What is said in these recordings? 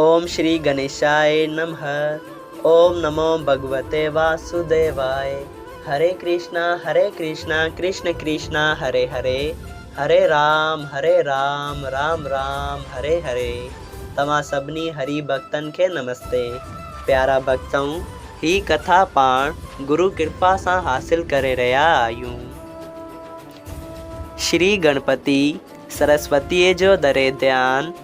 اوم شري گنيشائي نمه اوم نمو ڀڳوتي واسوديوائي هري ڪرشنا هري ڪرشنا ڪرشن ڪرشنا هري هري هري رام هري رام رام رام هري هري توهان سڀني هري ڀڳتن کي نمستي پيارا ڀڳتؤ هي ڪٿا پاڻ گرو ڪرپا سان حاصل ڪري رهيا آهيون شري گڻپتي سرسوتي جو دري ڌيان.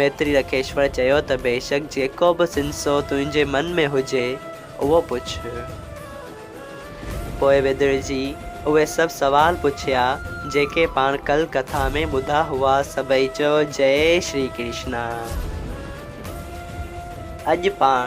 ميتري رکيشور چيو ته بيشڪ جيڪو به سنسو تنهنجي من ۾ هجي اهو پڇ. پوء ويدرجي اهي سڀ سوال پڇيا جيڪي پاڻ ڪل ڪٿا ۾ ٻڌا هئا سڀئي چيو جئي شري ڪرشنا. اڄ پاڻ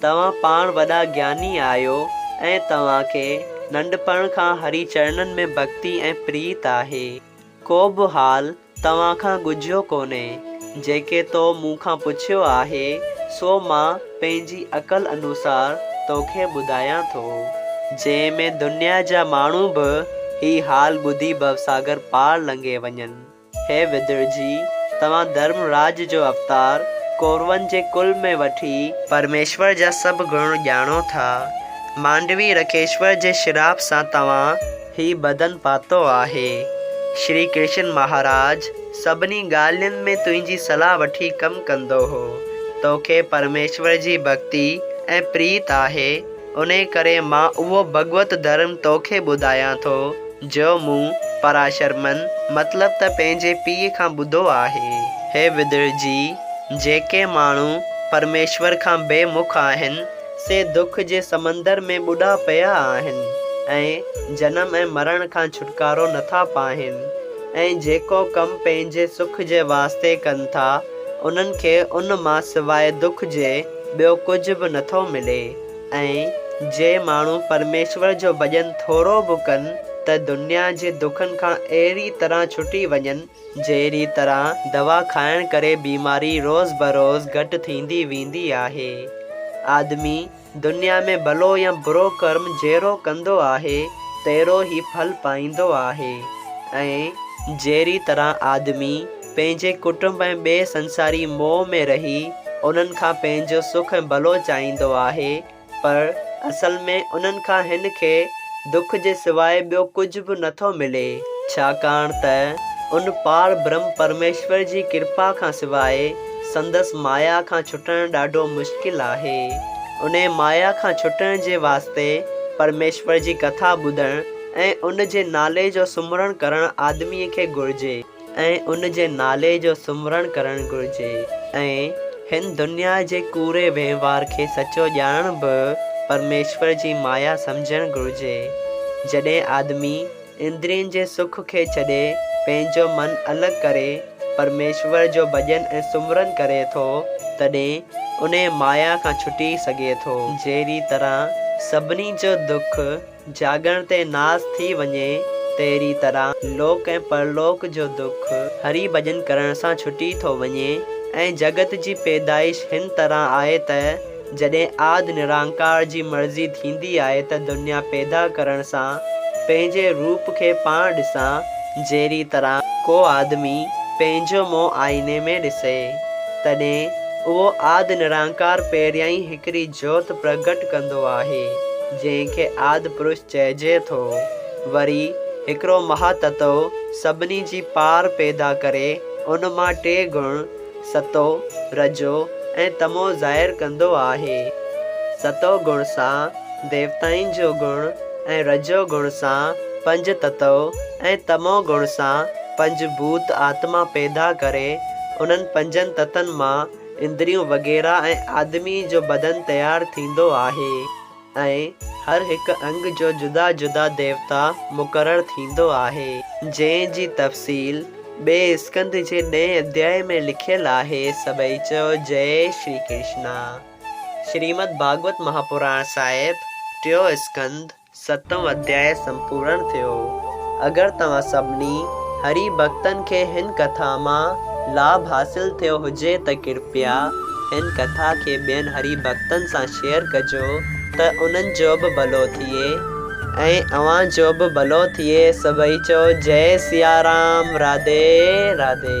توهان پاڻ وڏا گياني آهيو ۽ توهان کي ننڍپڻ کان هري چرنن ۾ ڀڳتي ۽ پريت آهي. ڪو به حال توهان کان ڳجهيو ڪونهي. جيڪي تو مون کان پڇيو آهي، سو مان پنهنجي عقل انوسار توکي ٻڌايان ٿو. جنهن ۾ دنيا جا ماڻهو به هي حال ٻڌي ڀوساگر پار لنگهي وڃن. هي وڌڙجي، توهان ڌرم راڄ جو اوتار، ڪورون جي ڪل ۾ وٺي. پرميشور جا سڀ گڻ ڄاڻو ٿا. مانڊوي رڪيشور جي شراپ سان توهان هي بدن پاتو آهي. شري ڪرشن مهاراج سڀني ڳالهين ۾ تنهنجي صلاح وٺي ڪم ڪندو هو. توکي پرميشور جي ڀڳتي ۽ پريت آهي. انهيء ڪري مان اهو ڀڳوت ڌرم توکي ٻڌايان ٿو، جو مون، پراشر من، مطلب ته پنهنجي پيء کان ٻڌو آهي. هي وڌڙ جي! جيڪي ماڻهو پرميشور کان بي مک آهن، سي دک جي سمندر ۾ ٻڏا پيا آهن، ۽ جنم ۽ مرڻ کان ڇوٽڪارو نٿا پاهين، ۽ جيڪو ڪم پنهنجي سک جي واسطي ڪن ٿا، انهن کي ان مان سواء دک جي، ٻيو ڪجهه به نٿو ملي ۽ جي ماڻهو پرميشور جو ڀڄن ٿورو به ڪن ته دنيا جي دکن کان اهڙي طرح ڇٽي وڃن جهڙي طرح دوا کائڻ ڪري بيماري روز بروز گهٽ ٿيندي ويندي آهي. آدمي دنيا ۾ ڀلو يا برو ڪرم جهڙو ڪندو آهي تهڙو ئي ڦل پائيندو آهي ۽ جهڙي طرح آدمي. پنهنجي ڪٽنب ۽ ٻئي سنساري موهه ۾ رهي انهن کان پنهنجو سک ۽ ڀلو چاهيندو آهي پر اصل ۾ انهن کان هن کي دک جي سواء ٻيو ڪجهه به نه ٿو ملي ڇاڪاڻ ته ان پار برهم پرميشور جي ڪرپا کان سواء سندس مايا کان ڇٽڻ ڏاڍو مشڪل آهي انهي مايا کان ڇٽڻ جي واسطي پرميشور جي ڪٿا ٻڌڻ ۽ ان جي نالي جو سمرڻ ڪرڻ آدمي کي گهرجي. ۽ ان جي نالي جو سمرڻ ڪرڻ گهرجي ۽ هن دنيا جي ڪوڙي وهنوار کي سچو ڄاڻڻ به پرميشور جي مايا سمجهڻ گهرجي. جڏهن آدمي اندرين جي سک کي ڇڏي پنهنجو من الڳ ڪري پرميشور جو ڀڄن ۽ سمرڻ ڪري ٿو تڏهن انهيء مايا کان ڇٽي سگهي ٿو. جهڙي طرح سڀني جو دک جاڳڻ تي ناس ٿي وڃي تهڙي طرح لوڪ ۽ پرلوڪ جو دک هري ڀڄن ڪرڻ سان ڇٽي ٿو وڃي ۽ جڳت جي پيدائش هن طرح آهي ته جڏهن آد نرانڪار جي مرضي ٿيندي آهي ته دنيا پيدا ڪرڻ سان پنهنجي روپ کي پاڻ ڏسان جهڙي طرح ڪو آدمي پنهنجو منهن آئيني ۾ ڏسي تڏهن اهو آد نرانڪار پهريائين هڪ. هڪڙي جوت پرگهٽ ڪندو آهي، جنهن کي آد پرش چئجي ٿو. وري هڪڙو مها تتو سڀني جي پار پيدا ڪري ان مان ٽي گڻ، ستو، رجو ۽ تمو ظاهر ڪندو آهي. ستو گڻ سان ديوتائن جو گڻ ۽ رجو گڻ سان پنج تتو ۽ تمو گڻ سان پنج ڀوت آتما پيدا ڪري انهن پنجن تتن مان اندريون وغيره ۽ آدمي جو بدن تيار ٿيندو آهي ۽ هر هڪ انگ جو جدا جدا ديوتا مقرر ٿيندو آهي جنهن جي تفصيل ٻئي اسڪنڌ جي ڏهين اڌياء ۾ لکيل آهي سڀئي چئو جئي شري ڪرشنا شريمد ڀاڳوت مهاپراڻ صاحب ٽيون اسڪنڌ. ستون اڌيايه سمپورڻ ٿيو. اگر توهان سڀني هري ڀڳتن کي هن ڪٿا مان لاڀ حاصل ٿيو هجي ته ڪرپيا هن ڪٿا کي ٻين هري ڀڳتن سان شيئر ڪجو ته انهن جو به ڀلو ٿئي ۽ اوهان جو به ڀلو ٿئي سڀئي چئو جئي سيارام راڌي راڌي.